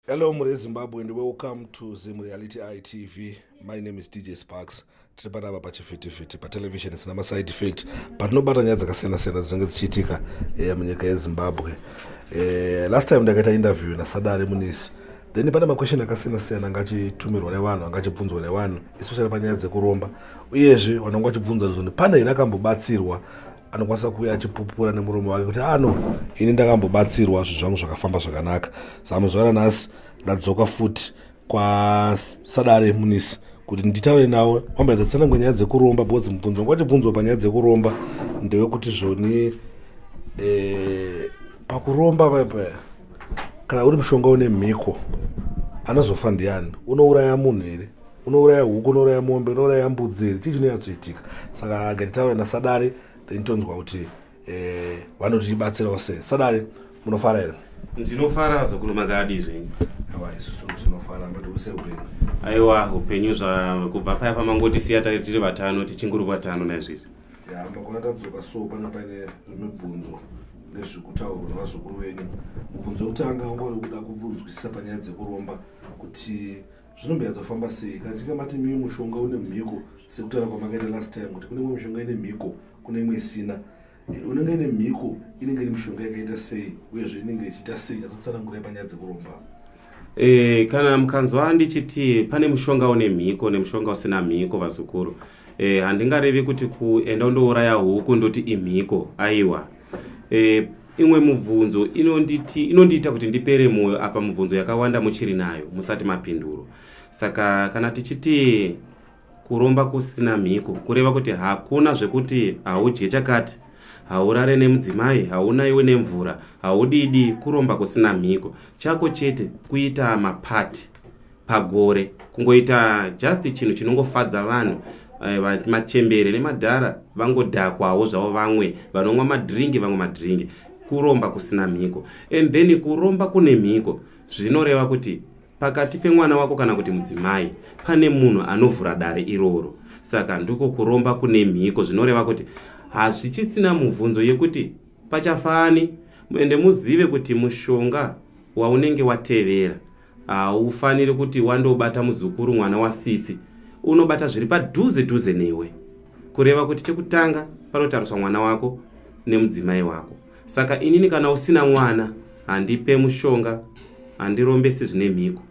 Hello Mure Zimbabwe and welcome to Zim Reality Eye TV. My name is DJ Sparks. Tiri panapa pachifitifiti patelevision isina maside effect patinobata nyaya dzakasiyana-siyana dzinenge dzichiitika eh, munyika yezimbabwe eh, last time ndakaita interview nasadare munisi then pane maquestion akasiyana-siyana anga achitumirwa nevanhu anga achibvunzwa nevanhu especially panyaya dzekuromba uyezve vanhu vanga vachibvunza zoni pane here akambobatsirwa anokwanisa kuuya achipupura nemurume wake kuti ano ah, ini ndakambobatsirwa zvinhu zvangu zvakafamba zvakanaka zame zuva ranhasi ndadzoka futi kwasadare munisi kuti nditaure navo kwambaedza tsanangwe nyaya dzekuromba because mubvunzo wanga wachibvunzwa panyaya dzekuromba ndewekuti zvoni eh, pakuromba paipa kana uri mushonga une mhiko anozofa ndiani unouraya munhu here unouraya huku unouraya mombe unouraya mbudzi here chii chinonyatsoitika saka gatitaura nasadare then tonzwa kuti eh, vanotibatsirawo sei sadare munofara here ndinofara zukuru makadi zvenyu aiwa isusu tinofara matiurise upenyu aiwa upenyu zvakubva paya pamangotisiya tari tiri vatano tichinguri vatano naizvizvi ya makona tadzoka so pana paine zvimibvunzo nezvekutaurwa nevazukuru venyu mubvunzo wekutanga ungori kuda kubvunzwisisa panyaya dzekuromba kuti zvinomboyadzofamba sei kana tinge mati mii mushonga une mhiko sekutaura kwamakaita last time kuti kune imwe mishonga ine mhiko kune imwe isina eh, unenge ine mhiko inenge iri mishonga yakaita sei uyezve inenge ichiita sei azotsanangurai panyaya dzekuromba e, kana mukanzwa ndichiti pane mushonga une mhiko nemushonga usina mhiko vazukuru e, handingarevi kuti kuenda undouraya huku ndoti imhiko aiwa e, imwe mubvunzo inonditi inondiita kuti ndipere mwoyo apa mubvunzo yakawanda muchiri nayo musati mapinduro saka kana tichiti kuromba kusina mhiko kureva kuti hakuna zvekuti haudye chakati haurare nemudzimai hauna iwe nemvura haudidi kuromba kusina mhiko chako chete kuita mapati pagore kungoita just chinhu chinongofadza vanhu eh, machembere nemadhara vangodhakwawo zvavo vamwe vanonwa madhiringi vamwe madhiringi kuromba kusina mhiko and then kuromba kune mhiko zvinoreva kuti pakati pemwana wako kana kuti mudzimai pane munhu anovhura dare iroro saka ndiko kuromba kune mhiko zvinoreva kuti hazvichisina mubvunzo yekuti pachafani ende muzive kuti mushonga waunenge watevera haufaniri kuti wandobata muzukuru mwana wasisi unobata zviri padhuze dhuze newe kureva kuti chekutanga panotariswa mwana wako nemudzimai wako saka inini kana usina mwana handipe mushonga handirombesi zvine mhiko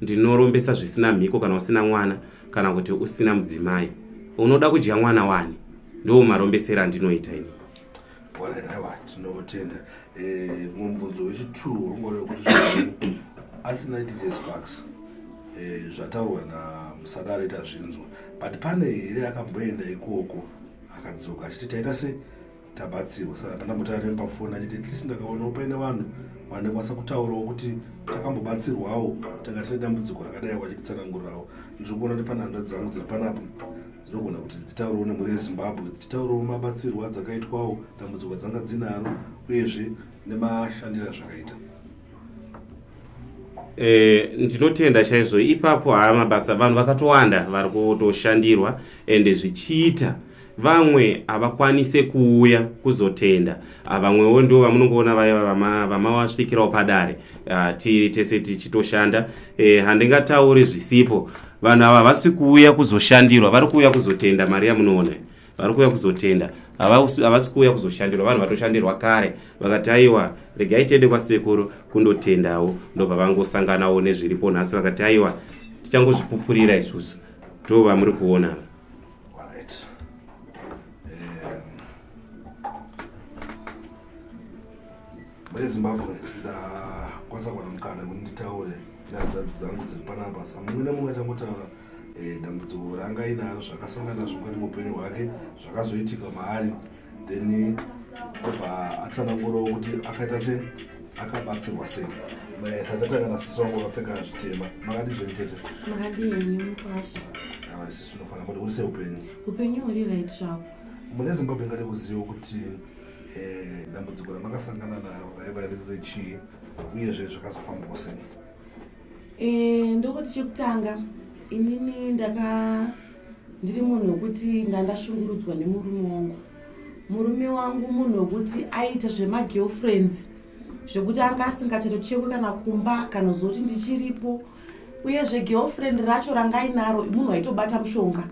ndinorombesa zvisina mhiko kana usina mwana kana kuti usina mudzimai unoda kudya mwana wani ndiwo marombesero andinoita ini Alright, aiwa tinotenda. Eh, mubvunzo wechi2 wangori wekuti zvinhu asina DJ Sparks eh, zvataurwa naMsadare tazvinzwa but pane here akamboenda ikoko akadzoka achiti taita se tabatsirwa saka ndandambotaura nemi pafoni achiti at least ndakaonawo paine vanhu vanekwanisa kutaurawo kuti takambobatsirwawo tanga tine dambudziko rakadai wachititsanangurirawo ndiri kuona kuti pane hanzvadzi dzangu dziri panapa dzinogona kuti dzitaurwo nemhuri yezimbabwe dzichitaurwo mabatsirwo adzakaitwawo dambudziko dzanga dzinaro uyezve nemashandiro azvakaita Eh, ndinotenda chaizvo ipapo haa mabasa vanhu vakatowanda vari kutoshandirwa ende zvichiita vamwe havakwanise kuuya kuzotenda ah, vamwewo ndo vamunongoona vaya vamawasvikirawo padare ah, tiri tese tichitoshanda eh, handingatauri zvisipo vanhu ava havasi kuuya kuzoshandirwa vari kuuya kuzotenda mari yamunoona vari kuuya kuzotenda havasi kuuya kuzoshandirwa vanhu vatoshandirwa kare vakati aiwa regai tiende kwasekuru kundotendawo ndobva vangosanganawo nezviripo nhasi vakati aiwa tichangozvipupurira isusu to vamuri kuona Mune Zimbabwe ndakwanisa kuwana mukana kuti nditaure nehanzvadzi dzangu dziri panapa sa mumwe nemumwe achangotaura eh, dambudziko ranga ainaro zvakasangana nazvo mukati muupenyu hwake zvakazoitika maari then obva atsanangurawo kuti akaita sei akabatsirwa sei satatanga nasisi wangu vakapfeka zvitema makadi zvenitete makadiimukwasha ava sisi unofanira kuti uri seupenyu upenyu huri right zvavo mune zimbabwe ngade kuziva kuti eh, dambudziko ramakasangana naro raiva riri rechii uyezve zvakazofambawo sei eh, ndokuti chekutanga inini ndaka ndiri munhu wekuti ndandashungurudzwa nemurume wangu murume wangu munhu wekuti aita zvemagirlfriends zvekuti anga asingachatochekwe kana kumba kana zoti ndichiripo uyezve girlfriend racho ranga inaro munhu aitobata mushonga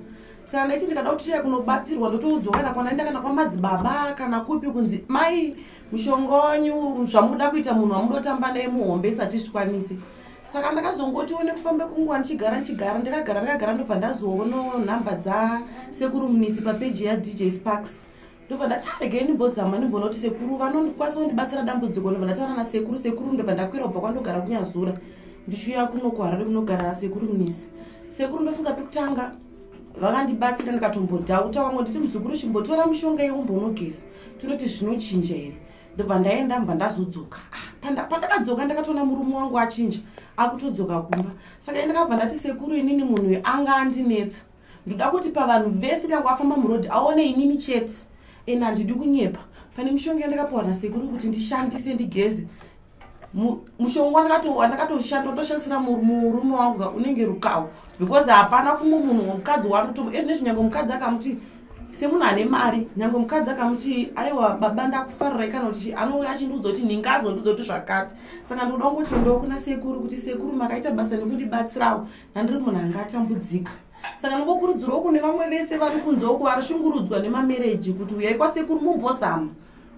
saka ndaiti ndikada kuti tiye kunobatsirwa ndotoudzwa kana kwanaenda kana kwamadzibaba kana kupi kunzi mai mushonga wanyu zvamuda kuita munhu wamudotamba naye muhombe isati zvikwanise saka ndakazongoti one kufamba kunguva ndichigara ndichigara ndikagara ndikagara ndobva ndazoona nhamba dzasekuru munisi papeji yadj sparks ndobva ndati aregei ah, ndimbozama ndimbonoti sekuru vanokwanisa kundibatsira dambudziko ndobva ndataura nasekuru sekuru ndobva ndakwira kubva kwandogara kunyazura ndichiuya kuno kuharare kunogara sekuru munisi sekuru ndofunga pekutanga vakandibatsira ndikatombodhauta wamwe nditi muzukuru chimbotora mushonga yeumbonogeza tinoti zvinochinja here ndobva ndaenda mbva ndazodzoka ah, pandakadzoka ndakatoona murume wangu achinja akutodzoka kumba saka ndakabva ndati sekuru inini munhu anga andinetsa ndoda kuti pavanhu vese kana kwafamba muroad aone inini chete and handidi kunyepa pane mushonga yandakapiwa nasekuru kuti ndishandise ndigeze mushonga wandakatoshanda ndoshandisira murume wangu unenge rukawo because hapana kumwe munhu mukadzi wanotomo ezvine zvinyangwe mukadzi akamuti semunhu ane mari nyangwe mukadzi akamuti aiwa baba ndakufarirai kana kuti anouya achindiudza kuti ndingazondiudza kuti zvakati saka ndoda kungoti ndokunasekuru kuti sekuru makaita basa nekundibatsirawo handiri munhu anga atambudzika saka nokokurudzirwa kune vamwe vese vari kunze uko vari shungurudzwa nemamereji kuti uyai kwasekuru mumbozama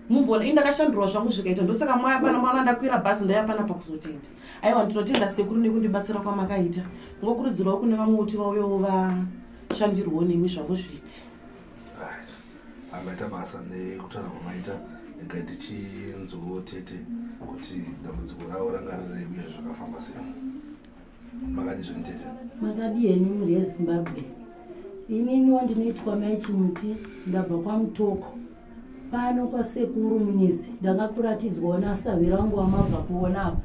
mumbona ini ndakashandurwa zvangu zvikaita ndosaka mwaya pana mwana ndakwira bhazi ndaiva pana pakuzotenda aiwa ndinotenda sekuru nekundibatsira kwamakaita ngokurudzirwa kune vamwe kuti vauyewo vashandirwo nemi zvavo zviti amaita basa nekutaura kwamaita ega tichinzwoo tete kuti dambudziko ravo ranga rireiuye zvakafamba sei makadii zveni tete makadii henyu mhuri yezimbabwe ininiwo ndinoitwa mai chimuti ndabva kwamutoko pano kwasekuru munyizi ndakakuratidzwawo nasahwira wangu wamabva kuona apa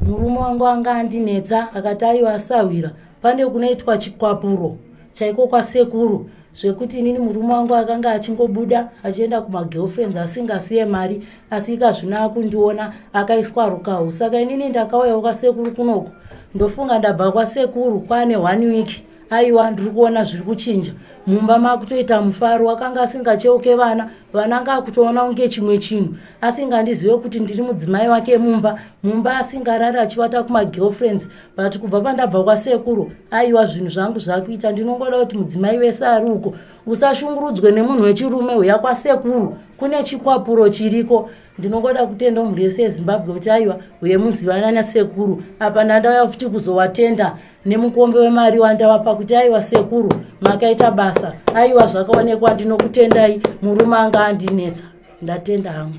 murume wangu anga andinetsa akati aiwa asahwira pane kunoitwa chikwapuro chaiko kwasekuru zvekuti inini murume wangu akanga achingobuda achienda kumagirlfriends asingasiye mari asi ikazvino akundiona akaiswa rukahu saka inini ndakauyawo kwasekuru kunoku ndofunga ndabva kwasekuru kwane one week aiwa ndiri kuona zviri kuchinja mumba makutoita mufaro akanga asingacheuke vana vana anga akutoona kunge chimwe chinhu asingandizive kuti ndiri mudzimai wake mumba mumba asingarari achivata kumagirlfriends but kubva pandabva kwasekuru aiwa zvinhu zvangu zvakuita ndinongoda kuti mudzimai wese ari uko usashungurudzwe nemunhu wechirume huya kwasekuru kune chikwapuro chiriko ndinongoda kutenda mhuri yese yezimbabwe kuti aiwa huye muzivana nasekuru apa ndandauya futi kuzowatenda nemukombe wemari wandavapa kuti aiwa sekuru makaita basa aiwa zvakaonekwa ndinokutendai murume anga andinetsa ndatenda hangu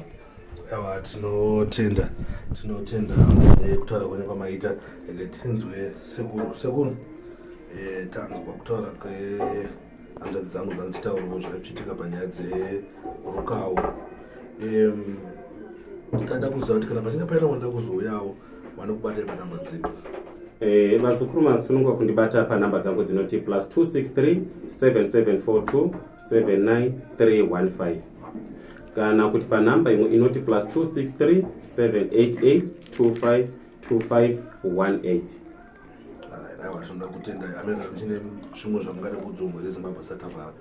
awa tinotenda tinotenda eh, kutaura kwenye kwamaita eh, tinzwe sekuru sekuru eh, tanzwa kutaura kwehanzvadzi dzangu dzandichitaurawo zvaichiitika panyaya dzerukawo tada kuziva kuti kana pachinge paina wanoda kuzouyawo vanokubatai panamba dzipi Eh, mazukuru masunungwa kundibata panhamba dzangu dzinoti plus 263 7742 79315 kana kuti panhamba imwe inoti plus 263 788 25 2518 aiwa tinoda kutenda amene chine zvimwe zvamungade kudzwa mhuri yezimbabwe satavara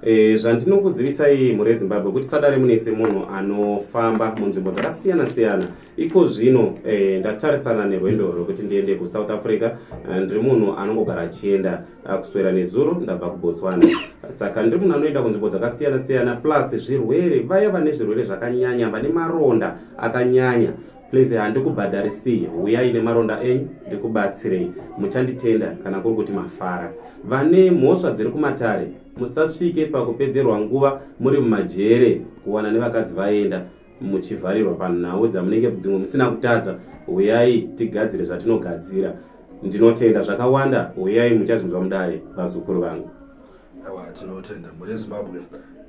Eh, zvandinokuzivisai mhuri yezimbabwe kuti sadare mune semunhu anofamba munzvimbo dzakasiyana siyana iko zvino eh, ndatarisana nerwendo rwekuti ndiende kusouth africa eh, ndiri munhu anongogara achienda Ah, kuswera nezuro ndabva kubotswana saka ndiri munhu anoenda kunzvimbo dzakasiyana siyana plus zvirwere vaya vane zvirwere zvakanyanya vane maronda akanyanya please handikubhadharisii huyai nemaronda enyu ndikubatsirei muchanditenda kana kuri kuti mafara vane mhosva dziri kumatare musasvike pakupedzerwa nguva muri mumajere kuwana nevakadzi vaenda muchivharirwa panhau dzamunenge dzimwe musina kutadza huyai tigadzire zvatinogadzira ndinotenda zvakawanda huyai muchazvinzwa mudare vazukuru vangu awa tinotenda mune zimbabwe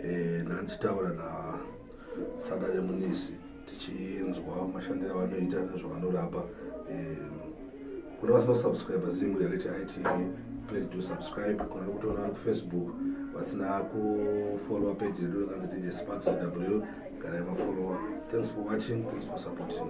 eh, nani titaura nasada remunisi tichinzwa mashandiro avanoita nezvavanorapa eh, Kuna vasina subscribe zimu ya Leti ITV please do subscribe kuna nokutoona vari kufacebook vasina kufollowa page redu rakanzi dj sparks aw kana yemafollowa thanks for watching thanks for supporting